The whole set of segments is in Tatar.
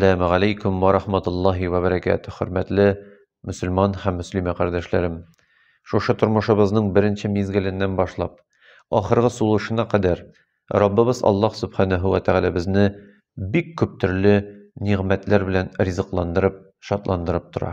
Сәләмә галейкум ва рахматуллахи ва бәрәкәтү, хөрмәтле мөселман һәм мөслимә кардәшләрем! Шушы тормышыбызның беренче мизгеленнән башлап, ахыргы сулышына кадәр Раббыбыз Аллаһ Сүбхәнәһү вә Тәгаләбезне бик күп төрле нигъмәтләр белән ризыкландырып, шатландырып тора.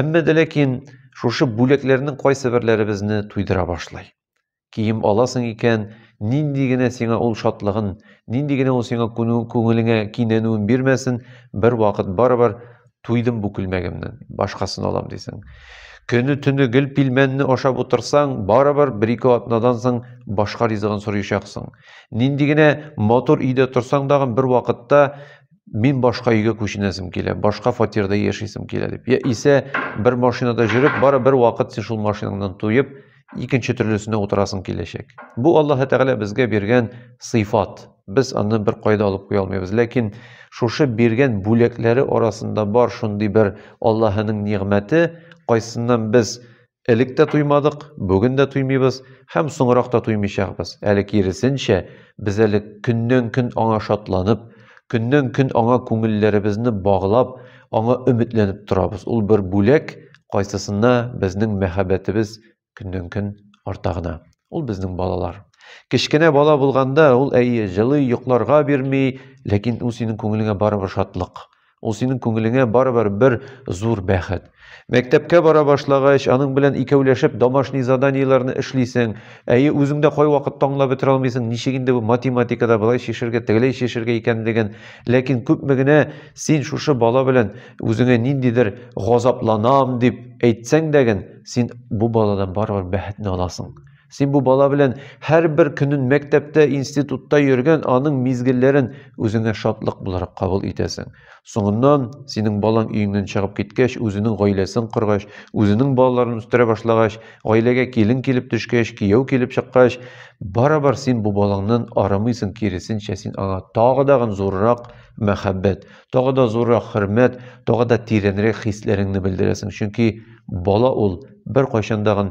Әмма дә ләкин шушы бүләкләрнең кайсы берләре безне туйдыра башлый. Кием аласың икән, нинди генә сиңа ул шатлыгын, нинди генә ул сиңа күңелеңә кинәнүен бирмәсен, бер вакыт барыбер туйдым бу күлмәгемнән, башкасын алам дисең. Көне төне гел пилмәнне ашап утырсаң, барыбер бер-ике атнадан соң башка ризыгын сорыйчаксың. Нинди генә матур өйдә торсаң дагы бер вакытта мин башка өйгә күченәсем килә, башка фатирда яшисем килә дип. Я исә бер машинада жүреп, бары бер вакыт син шул машинаңнан туеп, икенче төрлесенә утырасың киләчәк. Бу Аллаһ Тәгалә безгә биргән сыйфат. Без аны бер кайда алып куя алмыйбыз. Ләкин шушы биргән бүләкләре арасында бар шундый бер Аллаһының нигъмәте, кайсыннан без Элек тә туймадык, бүген дә туймыйбыз һәм соңрак та туймыйчакбыз. Әле киресенчә, без әле көннән-көн аңа шатланып, көннән-көн аңа күңелләребезне баглап, аңа өметләнеп торабыз. Ул бер бүләк, кайсысына безнең мәхәббәтебез көннән-көн арта гына. Ул безнең балалар. Кечкенә бала булганда, ул, әйе, җылый, йокларга бирми, ләкин ул синең күңелеңә барыбер шатлык. Ул синең күңелеңә барыбер бер зур бәхет. Мәктәпкә бара башлагач, аның белән икәүләшеп домашний заданиеләрне эшлисең. Әйе, үзең дә кайвакытта аңлап бетерә алмыйсың, ничек инде бу математикада болай чишергә, тегеләй чишергә икәнлеген. Ләкин күпме генә син шушы бала белән үзеңә ниндидер газапланам дип әйтсәң дә ген, син бу баладан барыбер бәхетне аласың. Син бу бала белән һәрбер көнен мәктәптә, институтта йөргән аның мизгелләрен үзеңә шатлык буларак кабул итәсең. Соңыннан, синең балаң өеңнән чыгып киткәч, үзенең гаиләсен коргач, үзенең балаларын үстерә башлагач, гаиләгә килен килеп төшкәч, кияү килеп чыккач, барабар син бу балаңнан арымыйсың, киресенчә, син аңа тагы да зуррак мәхәббәт, тагы да зуррак хөрмәт, тагы да тирәнрәк хисләреңне белдерәсең. Чөнки бала ул беркайчан да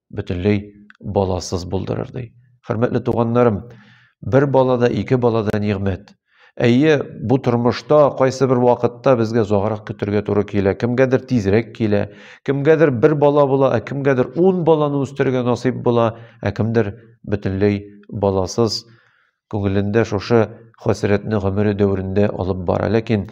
бөтенләй баласыз булдырыр ди. Хөрмәтле туганнарым, бер бала да, ике бала да нигъмәт. Әйе, бу тормышта кайсы бер вакытта безгә озаграк көтергә туры килә, кемгәдер тизрәк килә, кемгәдер бер бала була, ә кемгәдер ун баланы үстерергә насыйп була, ә кемдер бөтенләй баласыз күңелендә шушы хәсрәтне гомере дәверендә алып бара. Ләкин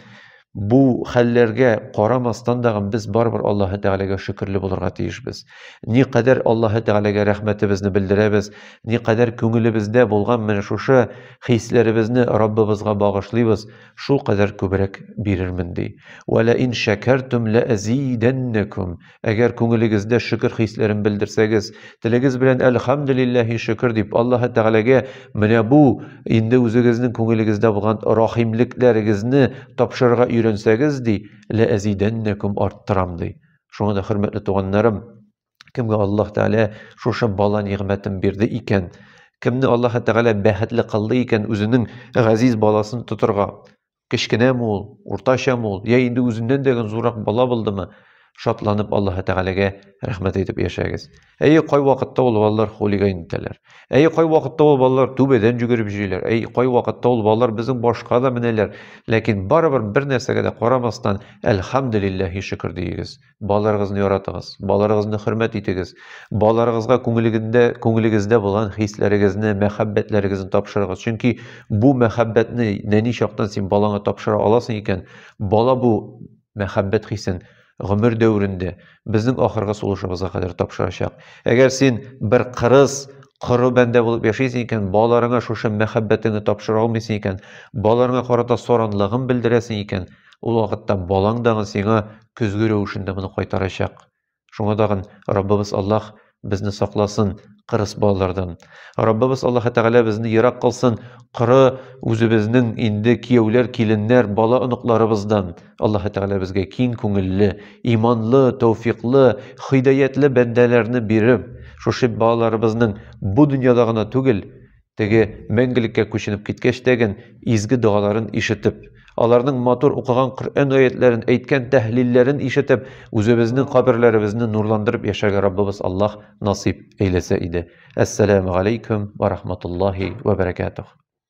бу хәлләргә карамастан да без барыбер Аллаһы Тәгаләгә шөкерле булырга тиешбез. Ни кадәр Аллаһы Тәгаләгә рәхмәтебезне белдерәбез, ни кадәр күңелебездә булган менә шушы хисләребезне Раббыбызга багышлыйбыз, шул кадәр күбрәк бирермен ди. Вәлә ин шәкәртүм ләәзидәннәкүм. Әгәр күңелегездә шөкер хисләрен белдерсәгез, телегез белән әлхәмдүлилләһи шөкер дип, Аллаһы Тәгаләгә менә бу инде үзегезнең күңелегездә булган рахимлекләрегезне тапшырырга өйрәнсәгез, ди, ләәзидәннәкүм арттырам, ди. Шуңа да, хөрмәтле туганнарым, кемгә Аллаһ Тәгалә шушы бала нигъмәтен бирде икән, кемне Аллаһы Тәгалә бәхетле кылды икән үзенең газиз баласын тотырга, Кечкенәме ул, уртачамы ул, я инде үзеннән дә гөн зуррак бала булдымы, шатланып Аллаһы Тәгаләгә рәхмәт әйтеп яшәгез. Әйе, кай вакытта ул балалар хулиган итәләр. Әйе, кай вакытта ул балалар түбәдән жүгереп җөйләр. Әйе, кай вакытта ул балалар безнең башка да менәләр. Ләкин барыбер бер нәрсәгә дә карамастан, әлхәмдүлилләһи шөкер диегез. Балаларыгызны яратыгыз, балаларыгызны хөрмәт итегез. Балаларыгызга күңелегендә, күңелегездә булган хисләрегезне, мәхәббәтләрегезне тапшырыгыз. Чөнки бу мәхәббәтне нәни чактан син балаңа тапшыра аласың икән, бала бу мәхәббәт хисен гомер дәверендә безнең ахыргы сулышыбызга кадәр тапшырачак. Әгәр син бер кырыс, коры бәндә булып яшисең икән, балаларыңа шушы мәхәббәтеңне тапшыра алмыйсың икән, балаларыңа карата саранлыгын белдерәсең икән, Ул вакытта балаң дагы сиңа көзге рәвешендә моны кайтарачак. Шуңа дагын Раббыбыз Аллаһ безне сакласын кырыс балалардан. Раббыбыз Аллаһ Тәгалә безне ерак кылсын коры үзебезнең инде кияүләр, киленнәр, бала оныкларыбыздан. Аллаһ Тәгалә безгә киң күңелле, иманлы, тәүфиклы, хидаятле бәндәләрне биреп, шушы балаларыбызның бу дөньяда гына түгел, Теге мәңгелеккә күченеп киткәч тәген изге догаларын ишетеп, аларның матур укыган Коръән аятләрен, әйткән тәһлилләрен ишетеп, үзебезнең каберләребезне нурландырып яшәргә Раббыбыз Аллаһ насыйп әйләсә иде. Әссәламү галәйкүм вә рахматуллаһи вә бәрәкәтүһ.